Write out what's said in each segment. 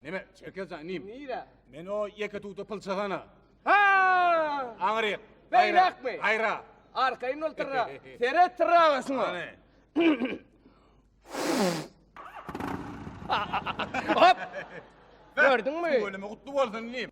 Neme, Çerkezjan inim? Nire? Men o ýeke tuta pylçagana. Ha! Aňryk. Beýräkmi? Gaýra. Arkaýyn ol tyrra. Seret tyrra şuňa. Hany. Hop! Gördüňmi? Ölümi gutly bolsun inim.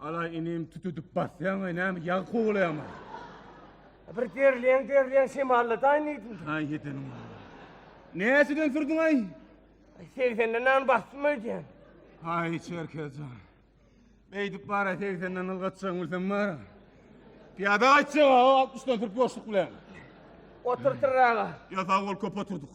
Ala inim tutup basýaň we näme ýag kowalaýaň. Bir derleň derleň şemalla daýyn diýdim. Aý ýetenim. Näçeden sürdüň aý? Segsenden nan bastym öýdýän. Aý Çerkezjan. Beýdip bara segsenden ylgatjaň bilsem bar. Piýada gaýtjak o 60-dan turup ýoşluk bilen. Oturtyr aga. Ýa sag bol köp oturduk.